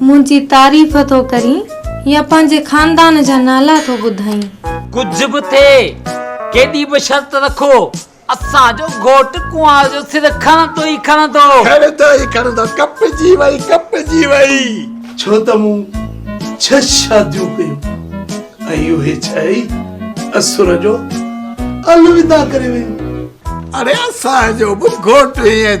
منهنجي تعريف ٿو ڪرين يا پنهنجي خاندان جا نالا ٿو ٻڌائين؟ ڪجهه به ٿئي، ڪيڏي به شرط رکو، اسان جو گهوٽ ڪنوار جو سر کڻندو ئي کڻندو. کڻندو ئي کڻندو. ڪپجي وئي، ڪپجي وئي. ڇو ته مون ڇهه شاديون ڪيون ۽ اهي ڇهه ئي اسر جو الوداع ڪري ويون. اڙي اسان جو به گهوٽ ائين.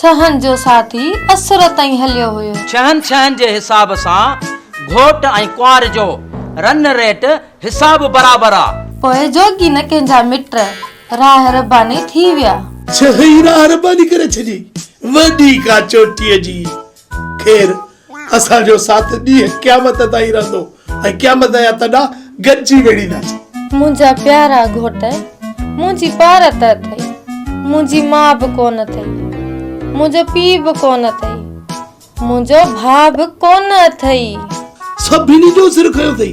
ڇهن جو ساٿي اسر تائين هليو هيو. ڇهن ڇهن جي حساب سان گهوٽ ۽ ڪنوار جو رن ريٽ حساب برابر آ. پوء جوڳي نه ڪنهن جا مٽ راهه رباني ٿي ويا. ڇهه ئي راهه رباني ڪري ڇڏي وڏي ڪا چوٽيء جي خير، اسان جو ساٿ ڏينهن قيامت تائين رهندو ۽ قيامت جا تڏا گڏجي ويڙهينداسين. منهنجا پيارا گهوٽ، منهنجي پار ته اٿئي، منهنجي ماء به ڪونه اٿئي، منهنجو پيء به ڪونه اٿئي، منهنجو ڀاء به ڪونه اٿئي. سڀني جو سر کنيو اٿئي،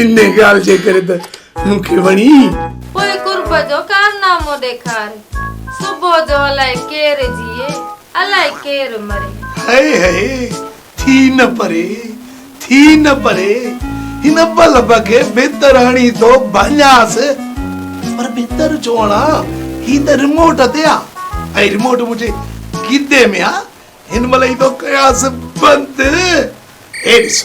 ان ڳالهه جي ڪري ته مون کي وڻي. پوء قرب جو ڪارنامو ڏيکار. صبح جو الائي ڪير جيئي، الائي ڪير مري. هئي هئي ٿي نه پري، ٿي نه پري. هن بلب کي بهتراڻي ٿو ڀڃانس. پر بهتر ڇو هڻان، هي ته رموٽ تي آ. ۽ رموٽ منهنجي گدي ۾ آ. هن مهل ئي ٿو ڪيانس بند. هي ڏس.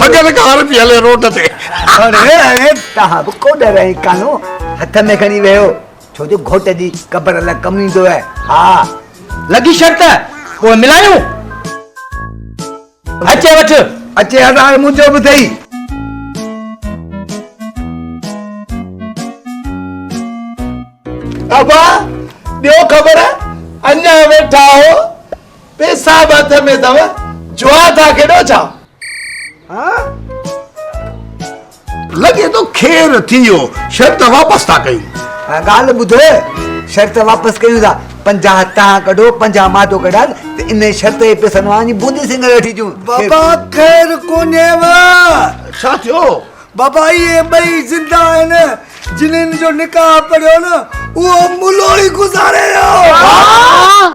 ڀڳل ڪار پئي هلي روڊ تي. اڙي اڙي تهان به ڪو ڏر ۽ ڪانو هٿ ۾ کڻي ويهو ڇو جو گهوٽ جي قبر الله ڪم ايندو آهي ها لڳي شرط پوء ملايون اچي وٺ اچي هڙ هاڻ منهنجو به ٿئي. ابا ڏيو خبر اڃا ويٺا آهو. پيسا به هٿ ۾ اٿو جوا ٿا کيڏو ڇا؟ ها؟ لڳي ٿو کير ٿي ويو شرط واپس ٿا ڪيون. ڳالهه ٻڌ شرط واپس ڪيون ٿا پنجاهه تان ڪڍو پنجاهه مان ٿو ڪڍان ته ان شرط جي پيسن مان وڃي بوندي سنگهڙ وٺي اچون. بابا خير ڪونهيو. ڇا ٿيو؟ بابا اهي ٻئي زنده آهن جنھن جو نڪاح پڙهيو نه اهو ملو ئي گذاري ويو.